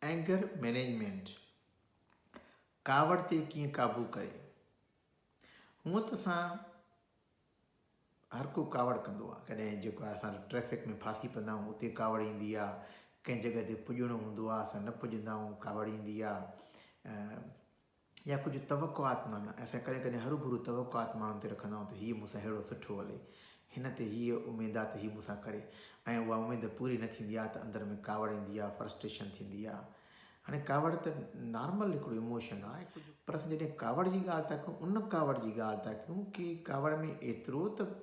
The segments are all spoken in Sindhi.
Anger Management، ڪاوڙ تي ڪيئن قابو ڪري؟ هونئن ته اسان هر ڪو ڪاوڙ ڪندو آهي ڪڏهن جيڪو آهي اسان ٽريفڪ ۾ ڦاسي پوندا آهيون اتي ڪاوڙ ايندي آهي ڪنهن جڳهه تي پڄڻو هوندو آهي اسان نه پڄندا آهيون ڪاوڙ ايندي آهي يا ڪجهه توقعات معنيٰ اسين ڪڏهن ڪڏهن هروڀرو توقعات ماڻهن تي رکندا آهيون ته هيء مون سان ههڙو سٺو هلي، هن تي هيء اميد آ ته هي مون سان ڪري ۽ اها اميد پوري نه ٿيندي آ ته اندر ۾ ڪاوڙ ايندي آ، Frustration، ٿيندي آ. هاڻي ڪاوڙ ته نارمل هڪڙو ايموشن آ پر اسين جڏهن ڪاوڙ جي ڳالهه ٿا ڪيون ان ڪاوڙ جي ڳالهه ٿا ڪيون ڪي ڪاوڙ ۾ ايترو ته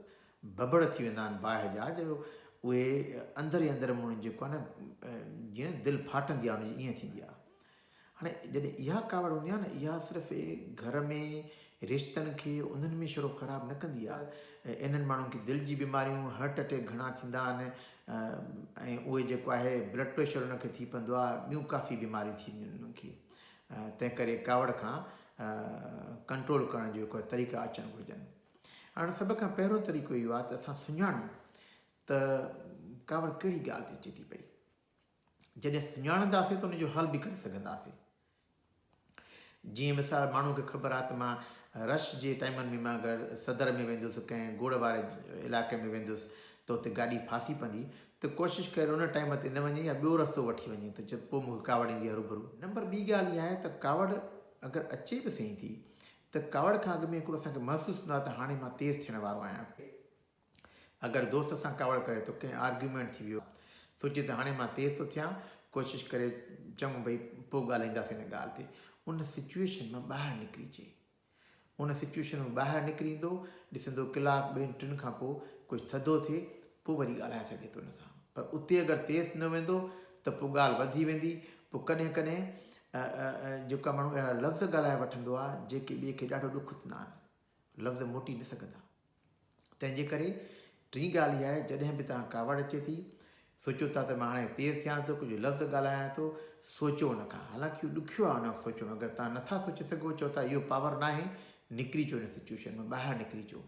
ڀڀڙ ٿي ويندا آهن باهه جا جو اهي اندر ئي اندر مون جيڪو آ نه ڄڻ دل ڦاٽندي آ ان جي ائين ٿيندي آ. هاڻي جڏهن اها ڪاوڙ هوندي آهي نه اها صرف گهر ۾ رشتن کي انهن ۾ شروع خراب نه ڪندي آهي ۽ انهن ماڻهن کي دل جي بيماريون هارٽ اٽيڪ گهڻا ٿيندا آهن ۽ اهي جيڪو آهي بلڊ پريشر انهن کي ٿي پوندو آهي ٻيون ڪافي بيماريون ٿي وينديون انهن کي تنهن ڪري ڪاوڙ کان ڪنٽرول ڪرڻ جو هڪڙا طريقا اچڻ گهرجن هاڻي سڀ کان پهريون طريقو اهو آهي ته اسان سڃاڻون ته ڪاوڙ ڪهڙي ڳالهه تي اچي ٿي پئي جڏهن سڃاڻنداسين ته ان جو حل به ڪري سگهنداسين. جيئن مثال ماڻهوء کي خبر آهي ته مان رش جي ٽائيمن ۾ مان اگر صدر ۾ ويندس ڪنهن گوڙ واري علائقي ۾ ويندس ته اتي گاڏي ڦاسي پوندي ته ڪوشش ڪري ان ٽائيم تي نه وڃي يا ٻيو رستو وٺي وڃي ته پوء مون کي ڪاوڙ ايندي هروڀرو. نمبر ٻي ڳالهه اها آهي ته ڪاوڙ اگر اچي به سهي ٿي ته ڪاوڙ کان اڳ ۾ هڪڙو اسان کي محسوس هوندو آهي ته هاڻي مان تيز ٿيڻ وارو آهيان. اگر دوست سان ڪاوڙ ڪري تو ڪنهن آرگيومينٽ ٿي ويو سوچي ته هاڻي مان تيز ٿو ٿيان ڪوشش ڪري چڱو ڀئي پوء ڳالهائينداسين ان ڳالهه تي ان سچوئيشن مان ٻاهر نڪري اچي ان سچوئيشن مان ٻاهر نڪري ايندو ڏسندو ڪلاڪ ٻين ٽن کان پوء ڪجهه ٿڌو ٿئي پوء وري ڳالهائي سگهي ٿو ان سان پر اتي اگر تيز نه ويندو ته پوء ڳالهه وڌي ويندي پوء ڪڏهن ڪڏهن جيڪا ماڻهو اهڙا لفظ ڳالهائي وٺندو آهي جيڪي ٻئي کي ڏاڍو ڏک ٿيندا آهن لفظ موٽي نه سگهندا. تنهن جي ڪري ٽين ڳالهه اها آهي جڏهن به توهان ڪاوڙ اچي ٿي، سوچيو ٿا ته مان هاڻي تيز ٿيان ٿو، ڪجهه لفظ ڳالهايان ٿو، سوچيو ان کان. حالانڪ اهو ڏکيو آهي ان وقت سوچڻ، اگر توهان نه ٿا سوچي سگهو، چئو ٿا اهو پاور ناهي، نڪري اچو ان سچوئيشن مان، ٻاهر نڪري اچو.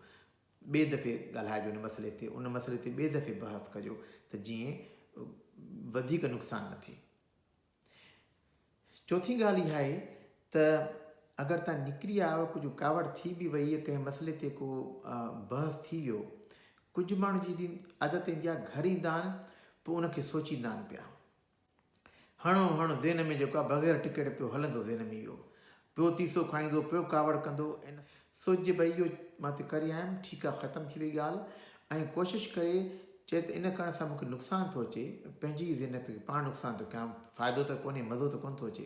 ٻئي دفعي ڳالهائجو ان مسئلي تي، ان مسئلي تي ٻئي دفعي بحث ڪجو ته جيئن وڌيڪ نقصان نه ٿئي. چوٿين ڳالهه اها آهي ته اگر تان نڪري آيو ڪجهه ڪاوڙ ٿي به وئي يا ڪنهن مسئلي تي ڪو بحث ٿي ويو ڪجهه ماڻهو جي عادت ايندي آهي گهر ايندا آهن پوء ان کي سوچيندا آهن پيا هڻو هڻ ذهن ۾ جيڪو آهي بغير ٽڪيٽ پيو هلندو ذهن ۾ اهو پيو تيسو کائيندو، پيو ڪاوڙ ڪندو. ان. سج ڀئي اهو مان تي ڪري آيم، ٺيڪ آ ختم ٿي وئي ڳالهه ۽ ڪوشش ڪري چئي ته ان ڪرڻ سان مون کي نقصان ٿو اچي، پنهنجي ئي زينت کي پاڻ نقصان ٿو ڪيان، فائدو ته ڪونهي، مزو ته ڪونه ٿو اچي.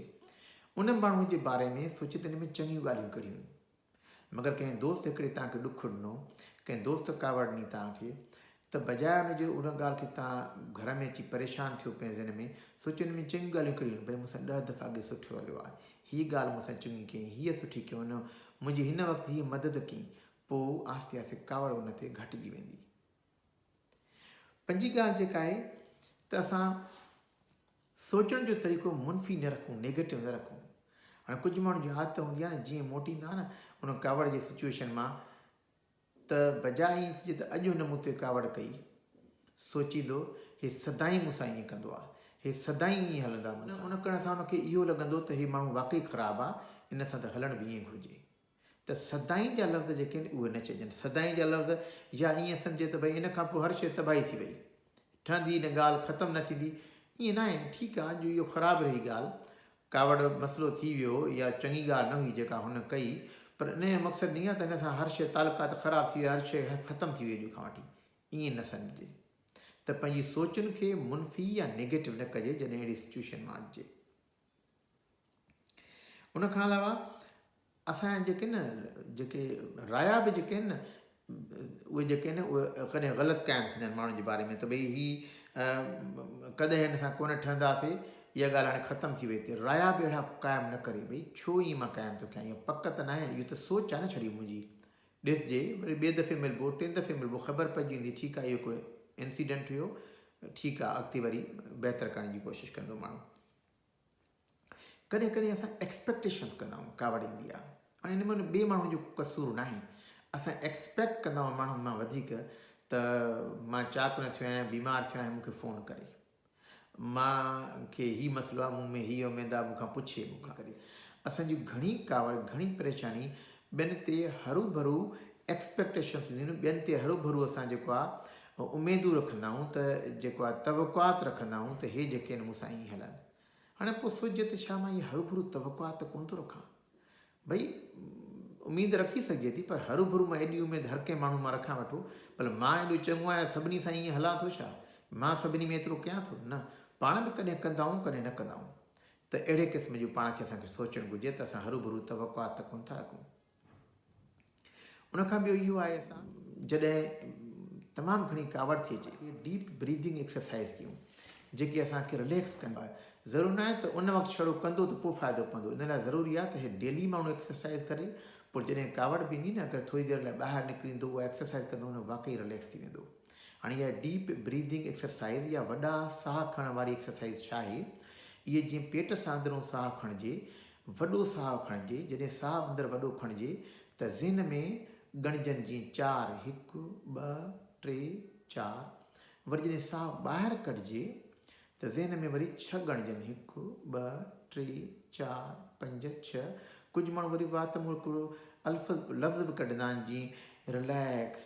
ان ماڻهوء جي باري ۾ سوچي دل ۾ چڱيون ڳالهيون ڪڙهيون. مگر ڪنهن دوست هڪڙي توهان کي ڏک ڏنو، ڪنهن دوست ڪاوڙ ڏني توهان کي، ته بجاء ان جي ان ڳالهه کي توهان گهر ۾ اچي پريشان ٿيو پنهنجي ذهن ۾ سوچيو ان ۾ چڱيون ڳالهيون ڪهڙيون آهن ڀئي مون سان ڏهه دفعا اڳي سٺو هليو آهي هيء ڳالهه مون سان چڱي ڪيائين هيء سٺي ڪيائون ان منهنجي هن وقت هيء مدد ڪئي پوء آهستي آهستي ڪاوڙ ان تي گهٽجي ويندي. پنجين ڳالهه جيڪا آهي ته اسان سوچڻ جو طريقو منفي نه رکون نيگيٽو نه رکون هاڻي ڪجهه ماڻهن جي عادت هوندي آهي نه جيئن موٽيندا نه ان ڪاوڙ جي سچويشن مان ته بجاء ايس جي ته اڄ هن مون تي ڪاوڙ ڪئي، سوچيندو، هي سدائين مون سان ائين ڪندو آ، هي سدائين ائين هلندو آ مون سان. ان ڪرڻ سان هن کي اهو لڳندو ته هي ماڻهو واقعي خراب آ، ان سان ته هلڻ به ائين گهرجي. ته سدائين جا لفظ جيڪي آهن اهي نه چئجن. سدائين جا لفظ يا ائين سمجهي ته ڀئي ان کان پوء هر شيء تباهي ٿي وئي. ٺهندي نه ڳالهه ختم نه ٿيندي ائين ناهي ٺيڪ آ جو اهو خراب رهي ڳالهه ڪاوڙ مسئلو ٿي ويو يا چڱي ڳالهه نه هئي جيڪا هن ڪئي پر انهي جو مقصد ني آ ته هن سان هر شي تعلقات خراب ٿي ويا هر شي ختم ٿي ويئي اڄ کان وٺي ائين نه سمجهجي ته پنهنجي سوچن کي منفي يا نيگيٽو نه ڪجي جڏهن اهڙي سچويشن مان اچجي. ان کان علاوه اسان جا جيڪي نه جيڪي رايا به جيڪي آهن نه اهي جيڪي آهن اهي ڪڏهن غلط ڪيا آهن ڪنهن ماڻهن جي باري ۾ ته ڀئي هي ڪڏهن هن سان ڪونه ٺهنداسي اها ڳالهه هاڻي ختم ٿي وئي ته رايا به اهڙا قائم نه ڪري ڀئي ڇو ائين مان قائم ٿو ڪيان اها پڪ ته ناهي اهو ته سوچ آهي نه ڇڙي منهنجي ڏسجي وري ٻئي دفعي ملبو ٽين دفعي ملبو خبر پئجي ويندي ٺيڪ آ اهو ڪو انسيڊنٽ هيو ٺيڪ آ اڳتي وري بهتر ڪرڻ جي ڪوشش ڪندو ماڻهو ڪڏهن ڪڏهن اسان ايڪسپيڪٽيشنس ڪندا آهيون ڪاوڙ ايندي آ هاڻي ان ۾ ٻئي ماڻهو جو قصور ناهي اسان ايڪسپيڪٽ ڪندا آهيون ماڻهن مان وڌيڪ ته مان چاڪ نه ٿيو آهيان بيمار ٿيو آهيان مونکي فون ڪري مان کي هي مسئلو آ، مون ۾ هي اميد آ، مون کان پڇي، مون کان ڪري. اسان جون گهڻي ڪاوڙ، گهڻي پريشاني ٻين تي هروڀرو Expectations هونديون آهن، ٻين تي هروڀرو اسان جيڪو آ اميدون رکندا آهيون ته جيڪو آ توقعات رکندا آهيون ته هي جيڪي آهن مون سان ائين هلن. هاڻي پوء سوچجي ته ڇا مان اهي هروڀرو توقعات ته ڪونه ٿو رکان؟ ڀئي اميد رکي سگهجي ٿي پر هروڀرو مان ايڏي اميد هر ڪنهن ماڻهو مان رکان وٺو ڀلا مان ايڏو چڱو آهيان سڀني سان ائين هلان ٿو ڇا؟ مان سڀني ۾ ايترو ڪيان ٿو؟ نه پاڻ به ڪڏهن ڪندائون ڪڏهن نه ڪندائون ته اهڙي قسم جون پاڻ کي اسان کي سوچڻ گهرجي ته اسان هروڀرو توقعات ته ڪونه ٿا رکون. ان کان ٻيو اهو آهي اسان جڏهن تمام گهڻي ڪاوڙ ٿئي ٿي ته ڊيپ بريدنگ ايڪسرسائيز ڪيون جيڪي اسان کي رليڪس ڪن ٿا ضرور ناهي ته ان وقت ڇڙو ڪندو ته پوء فائدو پوندو ان لاء ضروري آهي ته هي ڊيلي ماڻهو ايڪسرسائيز ڪري پوء جڏهن ڪاوڙ به ايندي نه اگر ٿوري دير لاء ٻاهر نڪري ايندو اها ايڪسرسائيز ڪندو نه واقعي رليڪس ٿي ويندو هاڻي اها ڊيپ بريدنگ ايڪسرسائيز يا وڏا ساهه کڻڻ واري ايڪسرسائيز ڇا آهي اهي جيئن پيٽ سان اندرون ساهه کڻجي وڏو ساهه کڻجي، جڏهن ساهه اندر وڏو کڻجي ته ذهن ۾ ڳڻجن جيئن چار، هڪ، ٻه، ٽي، چار، وري جڏهن ساهه ٻاهر ڪڍجي ته ذهن ۾ وري ڇهه ڳڻجن، هڪ، ٻه، ٽي، چار، پنج، ڇهه، ڪجهه ماڻهو وري وات مون هڪڙو الفظ لفظ به ڪڍندا آهن جيئن رليڪس،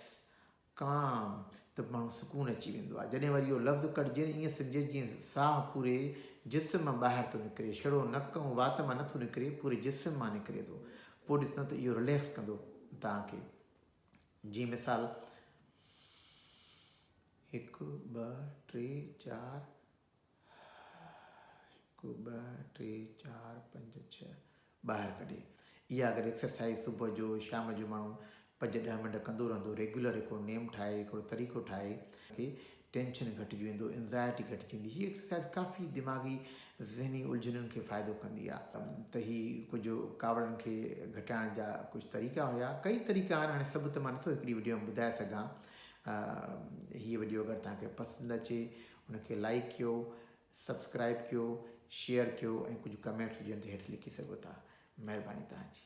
ڪام، ته ماڻهو سڪون اچي ويندو آهي. جڏهن وري اهو لفظ ڪڍجي نه ائين سمجهجي جيئن ساهه پوري جسم مان ٻاهر ٿو نڪري، شڙو نڪ ۽ وات مان نه ٿو نڪري، پوري جسم مان نڪري ٿو. پوء ڏسندو ته اهو رليڪس ڪندو توهان کي. جيئن مثال. هڪ، ٻه، ٽي، چار. هڪ ٻه ٽي چار پنج ڇهه ٻاهر ڪڍي اها اگر ايڪسرسائز صبح جو شام جو ماڻهو پنج ڏهه منٽ ڪندو رهندو ريگيولر هڪڙو نيم ٺاهي هڪڙو طريقو ٺاهي کي ٽينشن گهٽجي ويندو انزائٽي گهٽجي ويندي هي ايڪسرسائز ڪافي دماغي ذهني الجهنن کي فائدو ڪندي آهي ته هي ڪجهه ڪاوڙن کي گهٽائڻ جا ڪجهه طريقا هيا ڪئي طريقا آهن هاڻي سڀ ته مان نٿو هڪڙي وڊيو ۾ ٻڌائي سگهان هي وڊيو اگر توهان کي پسند اچي ان کي لائيڪ ڪيو، سبسڪرائيب ڪيو، شيئر ڪيو ۽ ڪجهه ڪمينٽس هجن ته هيٺ لکي سگهو ٿا. مهرباني توهان جي.